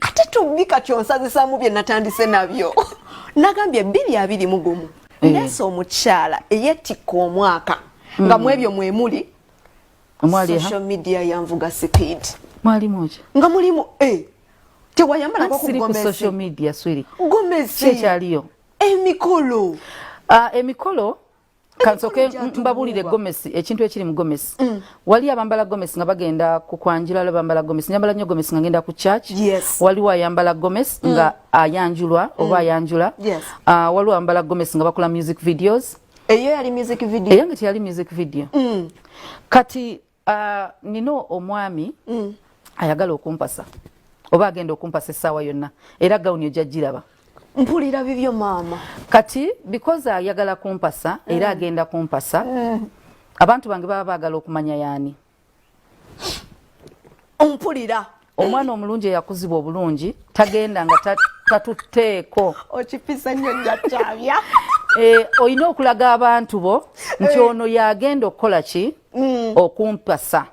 ate tubbi kati onsazisamu bye natandise nabyo nagambye bbiri abiri mugumu eh. nesa omukyala eyetikka omwaka mm. nga mwebyo mwemuli social media yanvuga speed mwalimuki nga mulimu eh. tewayambalako kugomesi emikolo ah, emikolo kansoke mbabulire gomesi ekintu ekiri mu gomesi mm. wali abambala gomesi nga bagenda ku kwanjula lo bambala gomesi nyambala nyo gomesi nga ngenda ku church yes. wali wa yambala gomesi mm. nga ayanjulwa mm. oba ayanjula yes. uh, ah, wali wa yambala gomesi nga bakula music videos eyo yali music video eyo nga yali music video mm. kati Ah, nina omwami mm. ayagala okumpasa oba agenda okumpasa essaawa yonna era gawuni ojja giraba mpulira bibyo maama kati because ayagala kumpasa era mm. agenda kumpasa mm. abantu bange baba baagala okumanya yaani mpulira omwana omulungi eyakuzibwa obulungi tagenda nga tatutteeko okipisa nnyo njakyabya eh, olina okulaga abantu bo nti eh. ono yagenda okukola ki mm. okumpasa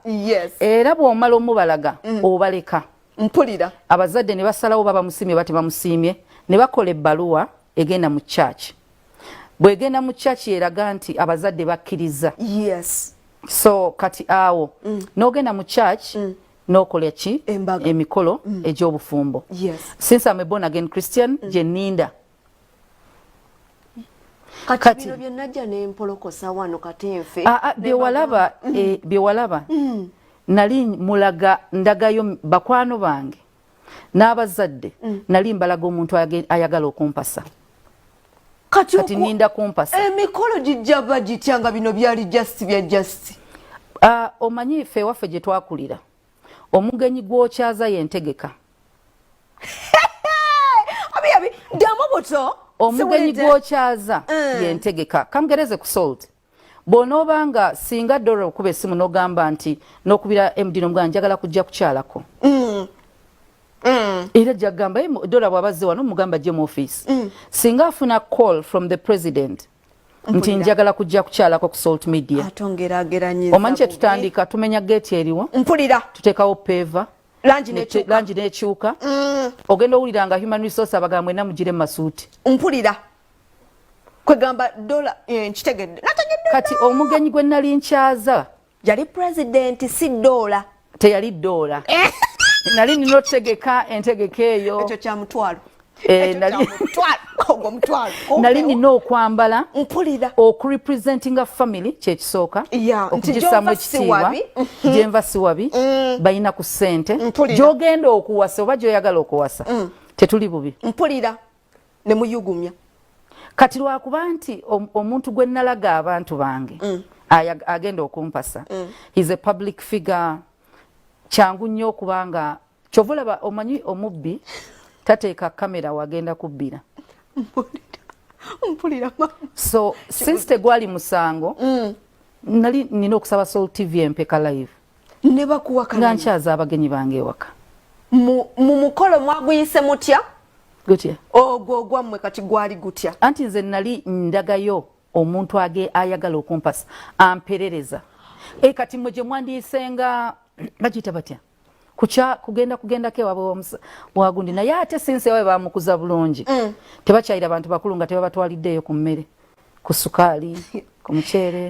era bw'omala omubalaga mm. obaleka mpulira abazadde ne basalawo baba musiimye bati bamusiimye ne bakola ebbaluwa egenda mu kyaki bwegenda mu kyaki eraga nti abazadde bakkiriza so kati awo mm. n'ogenda mu kyaki nokola ki emikolo mm. egyobufumbo yes. since am a born again christian mm. gyeninda kati ah, ah, byewalaba mm. eh, byewalaba mm. nali mulaga ndagayo bakwano bange n'abazadde mm. nali mbalaga omuntu ayagala okumpasa kati, kati ninda kumpasa emikolo eh, gijja bagitya nga bino byali just bya just uh, omanyi ffe ewaffe gye twakulira omugenyi gwokyaza yentegeka ddamu buto omugenyi gwokyaza eh. yentegeka kamugereze ku salt bwonooba nga singa dora okuba esimu nogamba nti nokubira md nomugana njagala kujja kukyalako mm. Mm. era jagamba dora bwabazze wano mugamba je mu office mm. singa afuna call from the president nti njagala kujja kukyalako ku salt media omanyi kyetutandika tumenya geeti eriwo mpulira tuteekawo peeva langi nekyuka mm. ogenda owulira nga human resource abagambwe namugire masuuti mpulira kwegamba dola eh, nkitegedde kati omugenyi gwe nali nkyaza yali pulezidenti si doola teyali doola eh. nali nina otegeka entegeka eyo ekyo kyamutwalo eh, nali nina okwambala mpulira okurepresentinga family kyekisooka okugisaamu ekitiibwa gyenva siwabi mm. balina ku ssente gyogenda okuwasa oba gyoyagala okuwasa mm. tetuli bubi mpulira ne muyugumya kati lwakuba nti omuntu gwe nalaga abantu bange mm. agenda okumpasa mm. he's a public figure kyangu nnyo okuba nga kyova olaba omanyi omubbi tateeka kamera wagenda kubbira so since tegwali musango mm. nali nina okusaba sol tv empeka live ne bakuwakana nga nkyaza abagenyi bange ewaka mu mukolo mwaguyise mutya gutya ogwo ogwammwe kati gwali gutya anti nze nali ndagayo omuntu age ayagala okumpasa amperereza e kati mwe gye mwandiyisenga bagiyita batya kukya kugenda kugendako ewabwe wagundi naye ate sinsi ewawe bamukuza bulungi mm. tebakyayira bantu bakulu nga tebabatwaliddeeyo ku mmere ku sukaali ku muceere